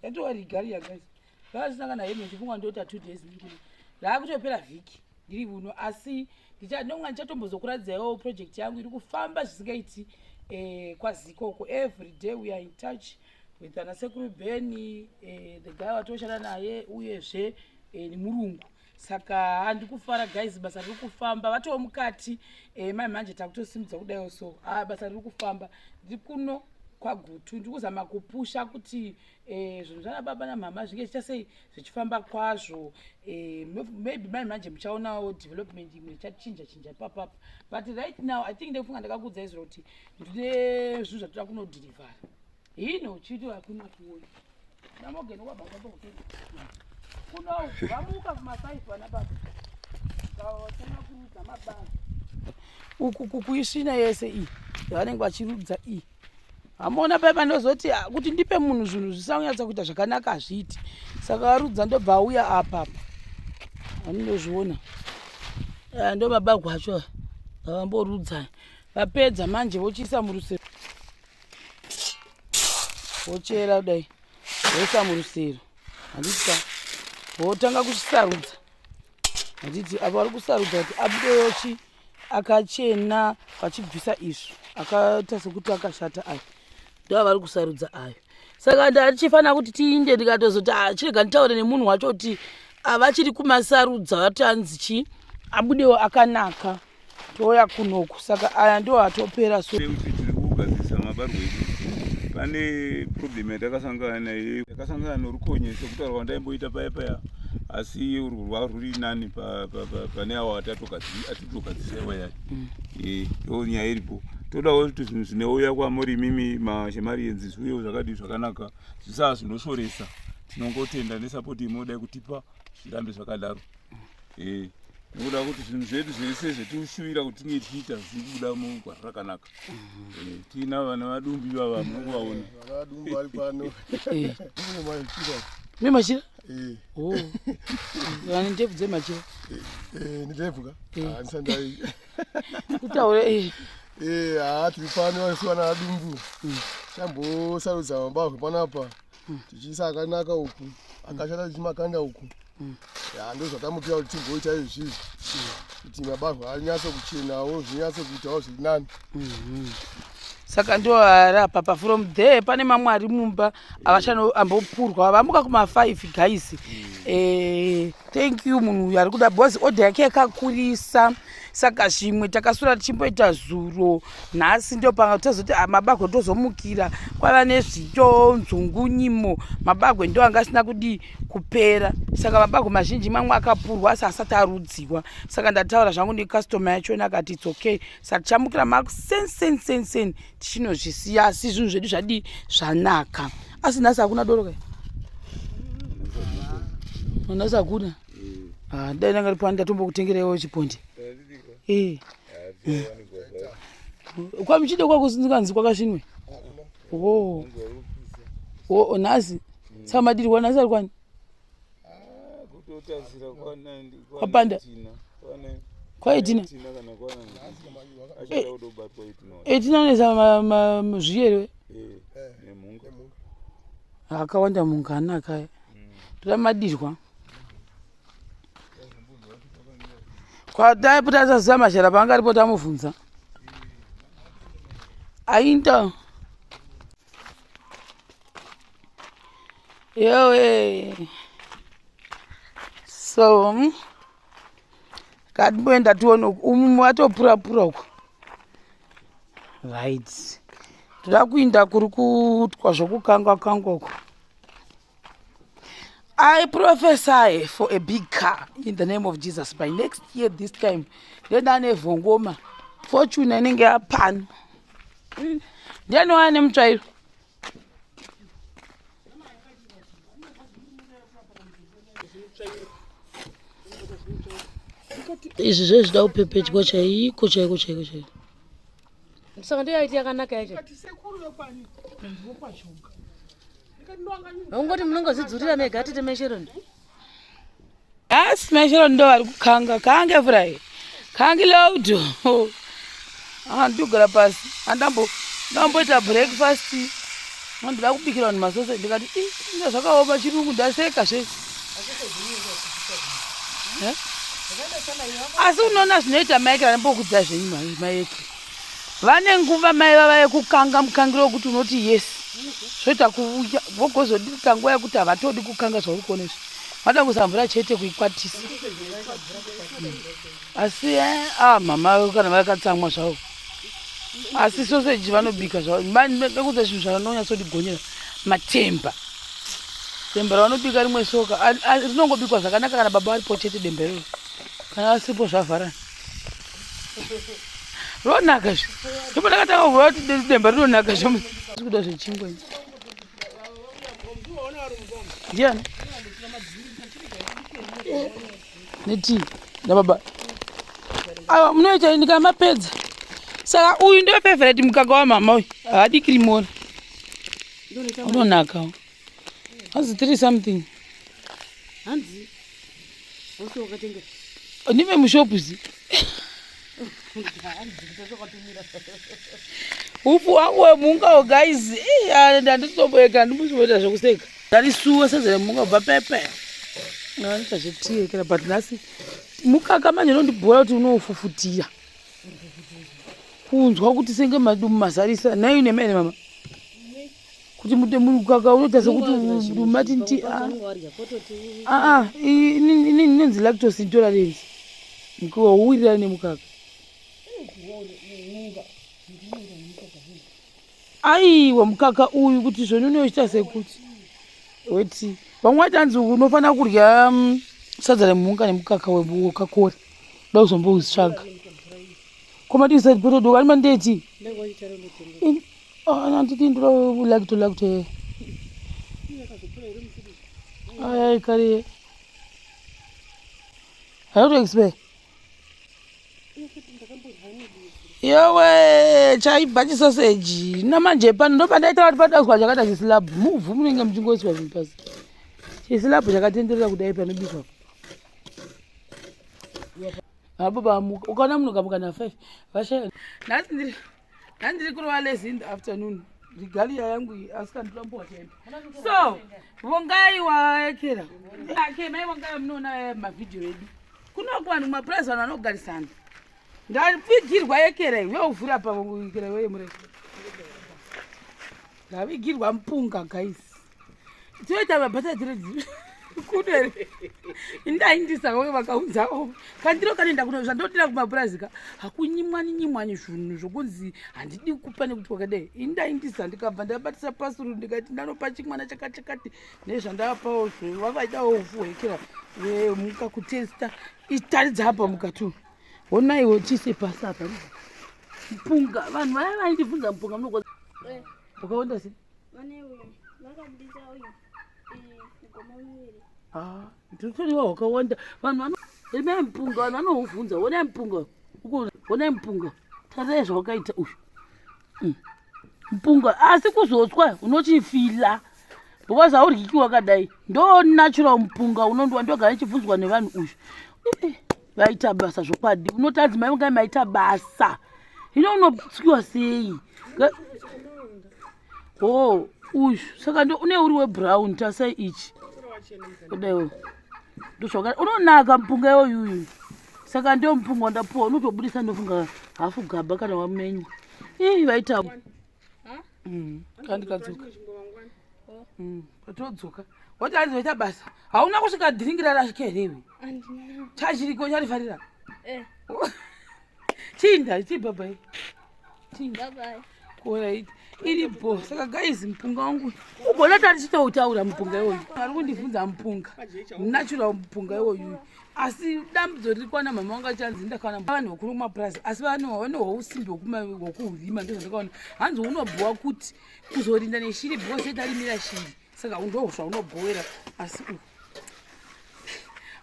yatowari gari yagais vaasina kana hementi funga ndoita two days ndiri raakutopera vhiki ndiri vuno asi ndonga ndichatombozokuradzaiwo project yangu iri kufamba zvisingaiti eh, kwazikoko every day we are in touch with ana sekuru beni eh, the guy watoshanda naye uyezve eh, nemurungu saka handi kufara guys basa riri kufamba vatowo mukati e, mai manje takutosimudza kudaiwo so ah, basa riri kufamba ndiri kuno kwagutu ndiri kuzama kupusha kuti e, zvinhu zvana baba namama zvinge zvicha sei zvichifamba kwazvo e, maybe mai manje muchaonawo development imwe ichachinja chinja ipapapa but right now i think ndekufunga ndakakuudza izviro kuti ndine zvinhu zvatoda kunodhirivhara Hino uchiti hakuna kuona. Namogeno kwa baba kwa Kuna vamuka kumasaifu vana baba. Kawasema kurudza mababa. Uku kukuishina yese iyi. Vanenge vachirudza iyi. Hamona paya panozoti ah, kuti ndipe munhu zvinhu zvisanyatsa kuita zvakanaka hazviiti. Saka varudza ndobva auya apa apa. Vanozviona. Eh, ndo baba gwacho. Vamborudza. Vapedza manje vochiisa murusero. wochera kudai woisa murusero handitika wotanga kuchisarudza handiti avo vari kusarudza kuti abudeyochi akachena vachibvisa izvo akaita sekuti akashata ayo ndo avari kusarudza ayo saka ndatichifanira kuti tiinde ndikatozoti achirega ah, nditaure nemunhu wacho kuti avachiri ah, kumasarudza vatanzi chii abudewo akanaka toya kunoku saka aya ndo atopera so kuti tiri kugadzirisa mabarwe edu pane problem yatakasangana naye yakasangana norukonye sekutaura kwandaimboita paya paya asi urwu rwava rwuri nani pane awo atitogadzisa iwa yayo mm. eh, ndo nyaya iripo todawo kuti zvinhu zvinouya kwamuri imimi mashemari yenzi zviuyewo zvakadii zvakanaka zvisaa zvinoshoresa tinongotenda nesapoti imoda yekutipa zvirambe zvakadaro eh nekuda kuti zvinhu zvedu zvese zvetinoshuvira kuti tinge tichiita zviri kubuda mugwara rakanaka mhm. eh, tiina vana vadumbu ivava mukuvaona me machira vane ndebvu dzemachira kutaura haa tiri pano vasiwana vadumbu mm. chambosarudza mabahwe panapa mm. tichiisa akanaka uku mm. akashata tichimakanda uku mm. ya ndozvatamukira kuti tigoita izvi izvi kuti mabahwa anyatso kuchenawo zvinyatso kuitawo zviri nani mm-hmm. saka ndo arapa pa from there pane mamwe ari mumba avachano ambopurwa vamuka kuma five guys mm. eh, thank you munhu uyu ari kuda bhozi odha yake yakakurisa mm. saka zvimwe takasura tichimboita zuro nhasi ndo panga tozoti ah, mabagwe tozomukira kwava nezvito nzungunyimo mabagwe ndo anga asina kudii kupera saka mabagwe mazhinji mamwe akapurwa asi asati arudziwa saka ndataura zvangu nekastoma yachona akati its okay saka tichamukira masensensensen tichinozvisiya asi zvinhu zvedu zvadii zvanaka asi nhasi hakuna doroka nhasi hakuna mm. ah, dai ndanga ndiri pano ndatombokutengereiwo chipondi eh. kwamuchide kwakuzikanzi kwakasvinwe oh. oh, nhasi saka madirwa nhasi ari kwani kwapanda kwaitina eitina unesa zviyerwe akawanda munhu kana akaya toda madirwa mm. kwadai pota asaziva mashara paanga aripo tamubvunza ainta yowe so hmm? katimboenda tione uku umumwe watopurapura uku right toda kuinda kuri kutwa zvokukangwa kangwa uku I prophesy for a big car in the name of Jesus by next year this time ndodane vhongoma fortune inenge yapano ndiani waya nemutsvairo izvi zve zvida kupepetwa chaiko chaiko chaiko chaiko saka ndoyaiti yakanaka yacho Ungoti munongozvidzurira mega tete Mesheron. Asi Mesheron ndo vari kukanga kange fry. Kange loud. Andugara pasi. Andambo ndamboita breakfast. Ndandida kubikira vanhu masose ndikati inga zvakaoma chirungu ndaseka zvese. Eh? Asi unoona zvinoita maekera ndambokudza zvenyu maekera. vane nguva mai vava yekukanga mukangiro wekuti unoti yes zvoita kuvuya vogozodita nguva yekuti havatodi kukanga zvauri kuona izvi vada kuisa mvura chete kuikwatisa hmm. asi eh, ah, mama vavo kana vakatsamwa zvavo asi soseji vanobika zvavo nekuza zvinhu zvavanonyatsondigonyera matemba demba ravanobika rimwe soka rinongobikwa zvakanaka kana baba varipo chete demba iroro kana vasipo zvavharana ronaka zve ndipo ndakatanga kuva kuti demba rinonaka zve zvikuda zvechingwa ndiani neti nababa awa munoita ini kana mapedza saka uyu ndio favorite mukaka wamama uyu haadikiri mora unonaka hanzi tiri something hanzi ose wakatenga ndive mushopu zi ufu wangu wemungawo guys ndanditomboyeka ndimusivoita zvekuseka ndarisuwa sezere munga bva pepe anoita zvetiekera but nhasi mukaka manje unondibhora kuti unofufutira kunzwa kuti senge madumumazarisa nai nemene mama kuti mukaka unoita sekuti umati nti aa ah, ah, inini inonzi lactos intolerance mkuwa uwirirani nemukaka aiwa mukaka uyu kuti zvoni unoita sekuti weti vamwe vati anzi unofanira kudya mm, sadza remhunga nemukaka wekakora da kuzomboutsvaga komati usati potodoka ani mandeti Oh, nanti tindro like to like to. Ay, ay, kari. How to explain? yowe chaibva chisoseji namanje pano ndoba ndaita vati padazwa chakata chisilabhu muvhu munenge muchingoiswa zvinhu pasi chisilabhu chakatenderera kudai panobikwa apo pamuka ukaona munhu kamuka na five vashaya nhasi ndiri handiri kurova lezi in the afternoon rigaliya yangu iyi asi kandirambowachaenda so vongai waekera ake mai vongai munoona mavhidhiyo edu kunoko vanhu mumapurazi vanhu vanogarisana ndavigirwa yekera iwe uvhura pavekera iwe yemurefu ndavigirwa mupunga gaisi dzoita vabata dziri dziri kuno here ndaindisa vamwe vakaunzawo kandiro kanoenda kuno zvandodira kumapurazi ka hakunyimwani nyimwani zvunhu zvokunzi handidi kupa nekuti kwakadai indaindisa ndikabva ndabatisa pasuru ndikati ndanopa chimwana chakachakati nezvandavapawo zve vavaidawo ufu hwekera vemuka kutesta itaridza apa mukatu honaiwo chise pasi apa mpunga vanhu vaya vaindibvunza mpunga munokoza eh. wakaonda sei vane uyu vakabudisa uyu mugoma miviri ah, ndiritoriwa hwakawanda vanhu vano rimai mupunga vanhu vanouvhunza wonai mupunga ukuona wonai mupunga tarai zvawakaita uyu mm. mupunga asi kuzotswa unochifila because haudyikiwa kadai ndo natural mupunga unondiwa ndogara ichibvunzwa nevanhu uyu vaita basa zvokwadi unoti adzi mai vangai maita basa hino unotyiwa sei ho oh, uyu saka ndo une uri webrown tasai ichi kudaiwo ndozvaka unonaka mupunga iwoyuyu saka ndo mupunga wandapuwa unotobudisa ndofunga hafu gaba kana wamenywa ii vaita Mm. kandikadzoka oh. mm. patodzoka woti hanzi vaita basa hauna kusvika dhiringi rarashika here iwe chachiriko charifarira eh. chinda chii babai chinda kuonaiti iri bho saka gaizi mupunga wangu ubona tari chitoutaura mupunga iwoyu ari kundibvunza mupunga natural mupunga iwoyu asi dambudzo riri kwana mama vanga chanzi ndakaona vanhu vakuru kumapurazi asi vanhu vane hwausimbi hwekuurima ndizvo ndakaona hanzi unobhowa kuti kuzorinda neshiri because yetarimira shiri saka undohusva unobhowera asi u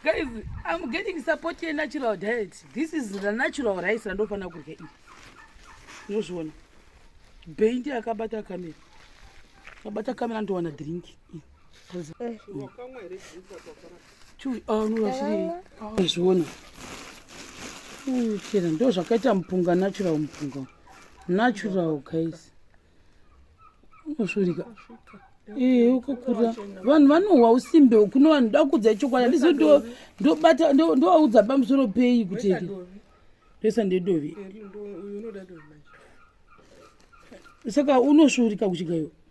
guys im getting support yenatural diet this is the natural rice randofanira kurya iri unozviona bendi akabata kamera akabata kamera ndowana drink eh. zviona chera ndo zvakaita mupunga natural mupunga natural guys unosvirika ee ukakura vanhu vanohwa usimbe kuno vanhu da kudza chokwadi andizo ndobata ndovaudza pamusoro pei kuti resa ndedovi saka unosvirika kuchikaiwa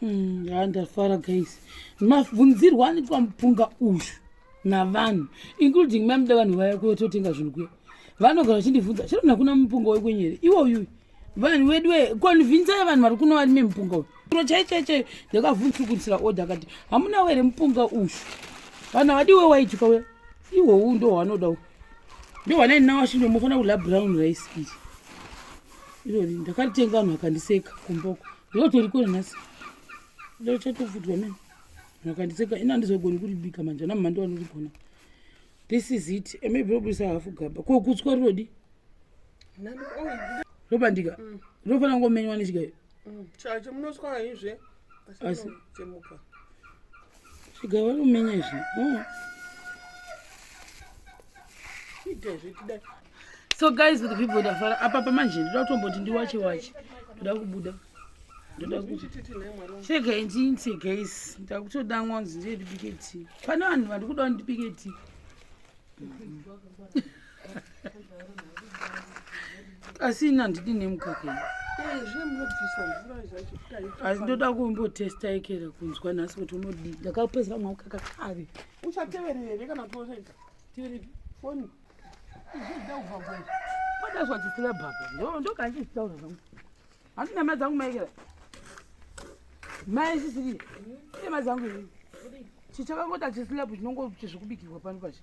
Hmm, yaa ndafara guys mabvunzirwa anoitwa mupunga uyu navanhu including mamuda vanhu vaya kutotenga zvinhu kuya vanogara vachindibvunza chero nakuna mupunga wekwenyere iwo uyuyu vanhu vedu we konvinzai vanhu vari kuno varime mupunga uyu ro chaichaichai ndakavhunzukunisira oda akati hamuna were mupunga uyu vanhu havadi we waitwa we iwowu ndo hwanoda u ndo hwanainawashindo mufanira kudla brown rice iri irori ndakaritenga vanhu vakandiseka kumboko ndotorikona nhasi ndochatofutwa mene vakandiseka ini handizogoni kuribika manje ana mhando vanorigona this is it maybe robudisa hafu gaba ko kutswa rinodi robandika mm. rinofanira kungomenywa nechikayo Mm, chacho munoswa haizve asi chemuka sviga vari kumenya izvi mm. so guys with people ndafara apa pamanje ndoda kutomboti ndiwache wache ndoda kubuda ndoda kuti chegaintinse guys ndakutoda ngonzi ndiyendibike tii pane vanhu vandikuda ndibike tii asi ini handidi nemukaka ini asi ndoda kumbotesta ekera kunzwa nhasi kuti unodii ndakapedzera mwaukaka kare uchateverere kana toenda tiverepi foni padazwa chisina baba ndokandichitaura zvangu handi nama dzangu maekera mai sisiri nema dzangu chichakangota chislabu chinongochizvikubikirwa pano pachi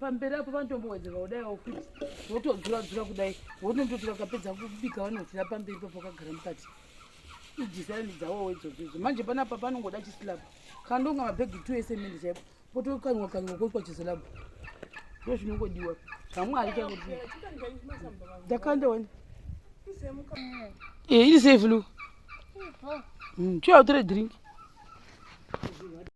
pamberi apo vanotombowedzerwa kudaiwo kuti votodzuradzura kudai vonondoti vakapedza kubika vanodzira pamberi papo vakagara mukati idhisaini dzawowo idzodzozvo manje panapa panongoda chisilabhu kandonga mabhegi two esemende chaipo potokanywa kanywa koitwa chisilabhu ndo zvinongodiwa zvamwari chakuti ndakanda wani eh, iri safe lu hmm, chiwa utore drink